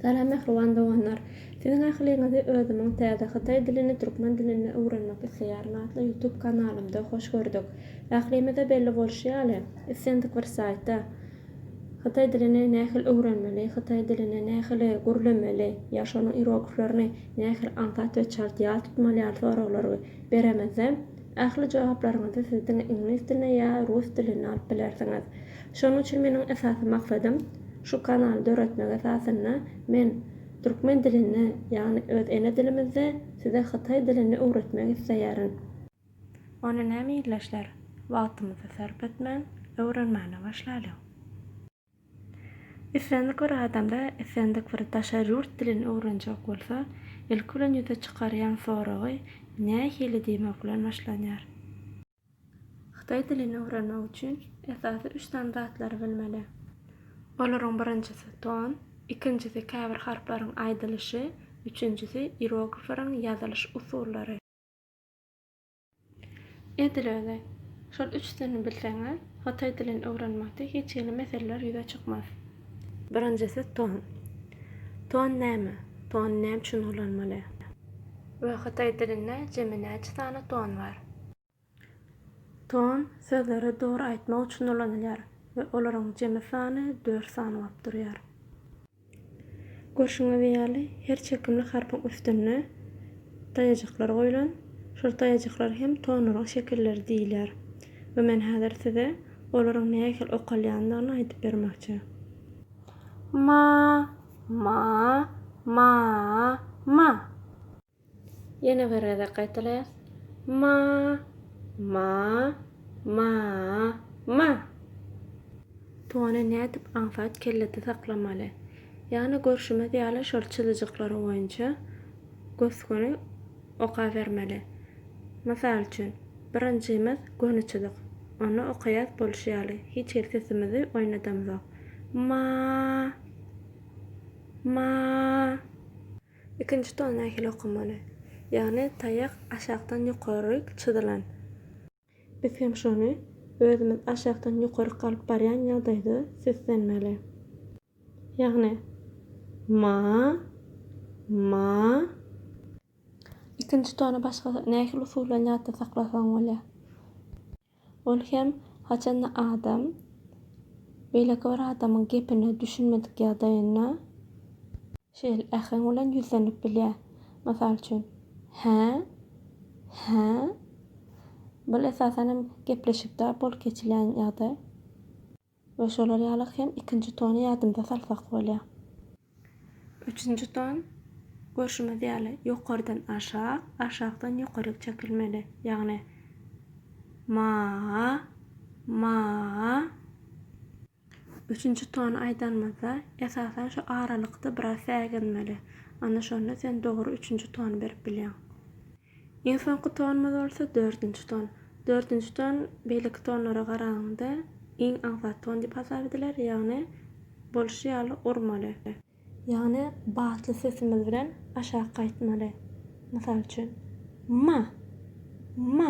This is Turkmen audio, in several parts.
Salam mähriban doganlar! Siziň ähliňizi özümiň Täze hytaý dilini türkmen dilinde öwrenmek isleýärin atly YouTube kanalymda hoş gördük. Ählimize belli bolşy ýaly, islendik bir saýtda Hytaý dilini nähili öwrenmeli, hytaý dilini nähili gürlemeli ýa şonuň ierogiflerini nähili aňsat we çalt ýat tutmaly ýaly soraglary beremizde, Ähli jogaplaryňyzy siz diňe iňlis dilinde ýa rus dilinde alyp bilersiňiz. Şonuň üçin meniň esasy maksadym şu kanaly döretmek esasynda men türkmen dilinde ýagny öz ene dilimizde size hytaý dilini öwretmek isleýärin. Onda näme ildeşler wagtymyzy sarp etmän öwrenmäne başlalyň. Islendik bir adamda islendik bir daşary ýurt dilini öwrenjek bolsa, ilki bilen ýüze çykarýan soragy nähili diýmek bilen başlanýar. Hytaý dilini öwrenmek üçin esasy üç sany zatlary bilmeli. Olaryň birinjisi, ton, ikinjisi, käbir harplaryň aýdylyşy, üçünjisi, ieroglifleriň ýazylyş usullary. Edil özi. Şol üç dilini bilseňiz, hytaý dilini öwrenmekde hiç hili meseleler ýüze çykmaz. Birinjisi ton. Ton näme? Ton näme üçin ulanmaly? We hytaý dilinde jemi näçe sany ton bar? Ton sözleri dogry aýtmak üçin ulanylýar we olaryň jemi sany dört sany bolup durýar. Görşüňiz ýaly, her çekimli harpyň üstünde daýajyklar goýlan. Şol daýajyklar hem tonlaryň şekilleri diýilýär we men häzir size olaryň nähili okalýandygyny aýdyp bermekçi. Ma, ma, ma, ma. Ýene bir gezek gaýtalaýas. Ma, ma, ma, ma. Tony nädip aňsat kellede saklamaly? Ýagny görşümiz ýaly şol çyzyjyklary boýunça gös-göni okabermeli. Mysal üçin, birinjimiz göni çyzyk. Ony okaýas bolşy ýaly, hiç hili sesimizi oýnadamzok. Ma, ma. Ikinji ton nähili okunmaly? Ýagny taýak aşakdan ýokaryk çyzylan. Biz hem şony özümiz aşakdan ýokaryk alyp barýan ýagdaýda seslenmeli. Ýagny, ma, ma. Ikinji tony başga nähili usul bilen ýatda saklasaň bolýar? Ol hem haçanda adam beýleki bir adamyň gepine düşünmedik ýagdaýynda şeýle äheň bilen ýüzlenip bilýär. Mysal üçin, Hä? Hä? Bul esasan hem gepleşikde bolup geçilýän ýagdaý. We şolar ýaly hem ikinji tony ýadymyza salsak bolýar. Üçünji ton, görşümiz ýaly, ýokardan aşak, aşakdan ýokaryk çekilmeli. Ýagny, ma, ma. Üçünji tony aýdanymyzda, esasan şu aralykda biraz säginmeli. Ana şonda sen dogry üçünji tony berip bilýäň. Iň soňky tonumyz bolsa dördünji ton. Dördünji ton beýleki tonlara garanyňda iň aňsat ton diýip hasap ediler, ýagny bolşy ýaly urmaly. Ýagny batly sesimiz bilen aşak aýtmaly. Mysal üçin, Ma! Ma!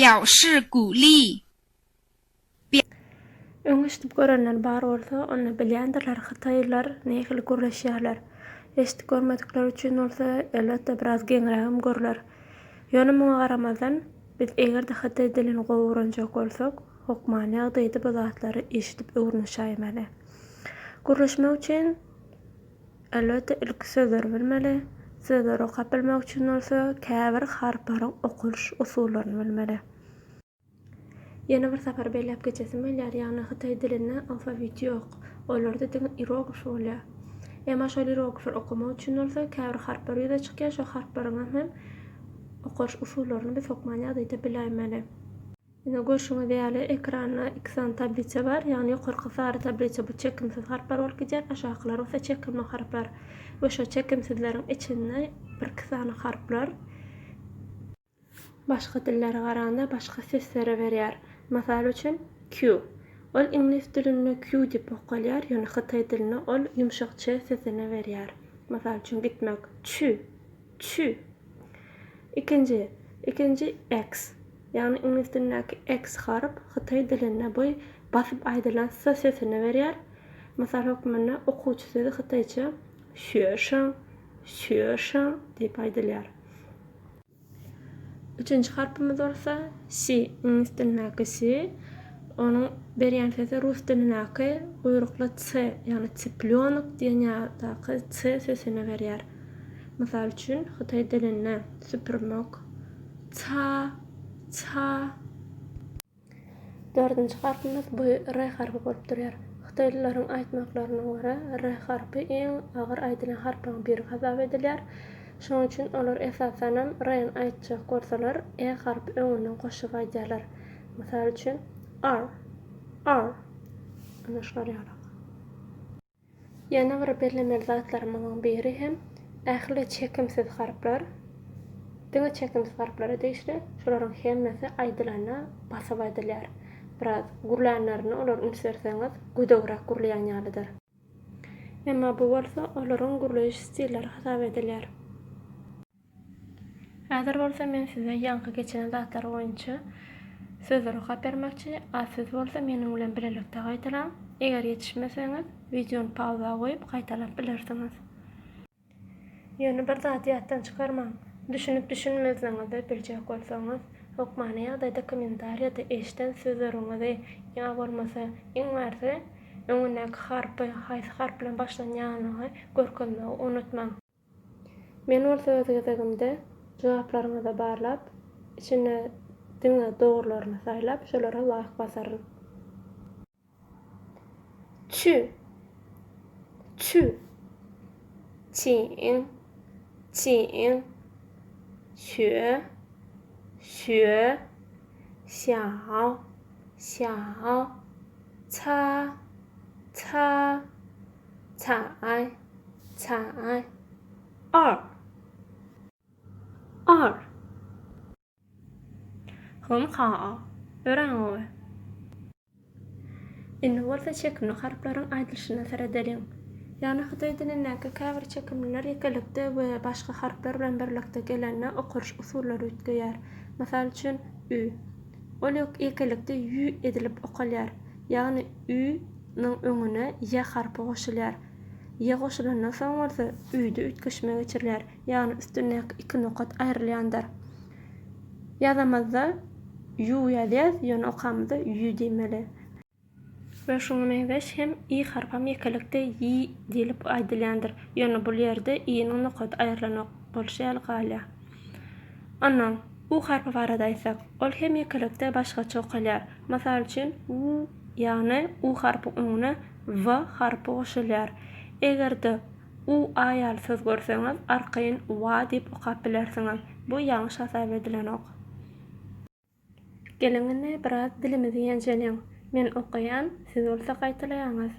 表示鼓励。Öň eşidip görenler bar bolsa, onda bilýändirler hytaýlylar nähili gürleşýärler. Eşidip görmedikler üçin bolsa, elbetde, biraz geňrägem gürlär. Ýöne muňa garamazdan, biz eger-de hytaý dilini gowy öwrenjek bolsak, hokman ýagdaýda bu zatlary eşidip öwrünişäýmeli. Gürleşmek üçin. Elbetde ilki sözleri bilmeli, sözleri okap bilmek üçin bolsa käbir harplaryň okalyş usullaryny bilmeli. Ýene bir sapar belläp geçesim gelýär, ýagny hytaý dilinde alfawit ýok, olarda diňe ieroglif bolýar. Emma şol ieroglifleri okamak üçin bolsa käbir harplar ýüze çykýar, şo harplaryňam hem okalyş usullaryny biz hokman ýagdaýda biläýmeli. Ine, görşüňiz ýaly, ekranda iki sany tablisa bar. Ýagny ýokarky sary tablisa bu çekimsiz harplar bolup gidýär, aşakylar bolsa çekimli harplar we şo çekimsizleriň içinde birki sany harplar başga dillere garanda başga sesleri berýär. Mysal üçin, Q. Ol iňlis dilinde Q diýip okalýar, ýöne hytaý dilinde ol ýumşak Ç sesini berýär. Mysal üçin, gitmek, Çü, çü. Ikinji, ikinji, X. Ýagny iňlis dilindäki X harp hytaý dilinde bu basyp aýdylan s sesini berýär. Mysal hökmünde okuwçy sözi hytaýça şüeşan, şüeşan, diýip aýdylýar. Üçünji harpymyz bolsa si, iňlis dilindäki si, onuň berýän sesi rus dilindäki guýrukly ts, ýagny ciplyonok diýen ýadaky ts sesini berýär. Mysal üçin hytaý dilinde supermok, Ca, ca. Dördünji harpymyz bu re harpy bolup durýar. Hytaýlylaryň aýtmaklaryna görä, re harpy iň agyr aýdylýan harplaryň biri hasap edilýär. Şonuň üçin olar esasanam reni aýtjak bolsalar, e harpy öňünden goşup aýdýarlar. Mysal üçin, ar, ar. Ana şular ýaly. Ýene bir bellemeli zatlarymyzyň biri hem ähli çekimsiz harplar diňe çekimsiz harplara degişli, şolaryň hemmesi aýdylanda basyp aýdylýar. Biraz gürlänlerine olar üns berseňiz gödegräk gürleýän ýalydyr. Emma bu bolsa olaryň gürleýiş stilleri hasap edilýär. Häzir bolsa men size ýaňky geçen zatlar boýunça söze rugsat bermekçi, a siz bolsa meniň bilen bilelikde gaýtalaň. Eger ýetişmeseňiz, wideony pauza goýup, gaýtalap bilersiňiz. Ýöne bir zady ýatdan çykarmaň, düşünip-düşünmeziňizi biljek bolsaňyz, hökmany ýagdaýda kommentariýada eşden sözleriňizi ýa bolmasa, iň basy, öňündäki harpy, haýsy harp bilen başlanýanlygy görkezmegi unutmaň. Men bolsa öz gezegimde jogaplaryňyzy barlap, içinde diňe dogrylaryny saýlap, şolara laýk basaryn. Çü. Çü. Çiň. Çiň. Şüe. Şüe. Şýaw. Şýaw. Ça. Ça. Çaý, çaý. Ar. Ar. Hyn ha. Örän gowy. Indi bolsa çekimli harplaryň aýdylyşyna seredeliň. Ýagny hytaý dilindäki käbir çekimliler ýekelikde we başga harplar bilen birlikde gelende okaryş usullary üýtgeýär. Mysal üçin, ü. Ol ýekelikde ýü edilip okalýar. Ýagny ü. nyň öňüne ýe harpy goşulýar. Ýe goşulandan soň bolsa üýde üýtgeşme geçirilýär, ýagny üstündäki iki nokat aýrylýandyr. Ýazamyzda ýu ýazýas, ýöne okamyzda ýü diýmeli. We şuňa meňzeş hem i harpam ýekelikde ýi diýlip aýdylýandyr, ýöne bul ýerde i-niň nokaty aýrylanok bolşy ýaly galýar. Onnoň. U harpy barada aýtsak, ol hemýekilikde başgaça okalýar. Mysal üçin, u, ýagny u harpyň öňüne w harpy goşulýar. Eger-de u, a ýaly söz görseňiz, arkaýyn wa diýip okap bilersiňiz. Bu ýalňyş hasap edilenok. Geliň indi biraz dilimizi ýenjeliň. Men okaýan, siz bolsa gaýtalaýaňyz.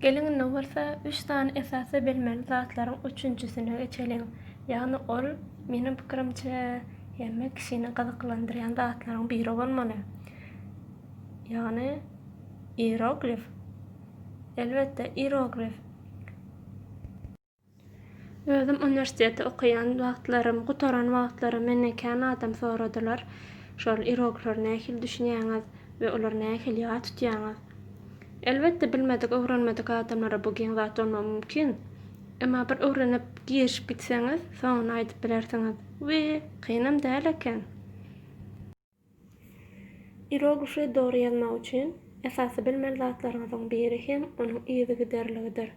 Geliň indi bolsa üç sany esasy bilmeli zatlaryň üçünjisine geçeliň. Ýagny ol, meniň pikirimçe, hemme kişini gyzyklandyrýan zatlaryň biri bolmaly. Ýagny ieroglif. Elbetde, ieroglif. Özüm uniwersiteti okaýan wagtlarym, gutaran wagtlarym menden kän adam soradylar, şol iroglary nähili düşünýäňiz we olary nähili ýat tutýaňyz? Elbetde, bilmedik, öwrenmedik adamlara bu giň zat bolmagy mümkin. Emma bir öwrenip, girişip gitseňiz, soňuny aýdyp bilersiňiz we kynam däl eken. Iroguşy dogry ýazmak üçin esasy bilmeli zatlaryňyzyň biri hem onuň yzygiderligidir.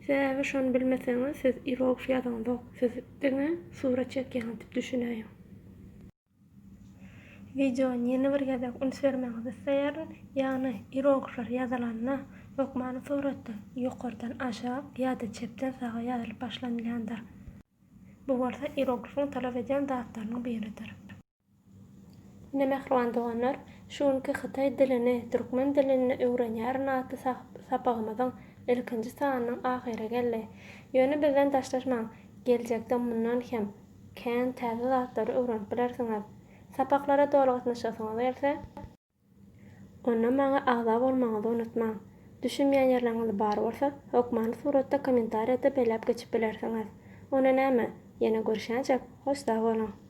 Sebäbi şony bilmeseňiz siz iroguş ýazaňzok, siz diňe surat çekýäňiz diýip düşünäýiň. Wideony ýene bir gezek üns bermegiňizi isleýärin, ýagny iroguşlar ýazylanda hökmany suratda ýokardan aşak ýa-da çepden saga ýazylyp başlanylýandyr. Bu bolsa iroguşyň talap edýän zatlarynyň biridir. Ine mähriban doganlar, şu günki Hytaý dilini, Türkmen dilini öwrenýärin atly sapagymyzyň ilkinji sanynyň ahyry geldi. Ýöne bizden daşlaşmaň, geljekde mundan hem kän täze zatlary öwrenip bilersiňiz. Sapaklara doly gatnaşasyňyz gelse, onda maňa agza bolmagyňyzy unutmaň. Düşünmeýän ýerleriňiz bar bolsa, hökmany suratda kommentariýada belläp geçip bilersiňiz. Onda näme, ýene görüşýänçäk, hoş sag boluň!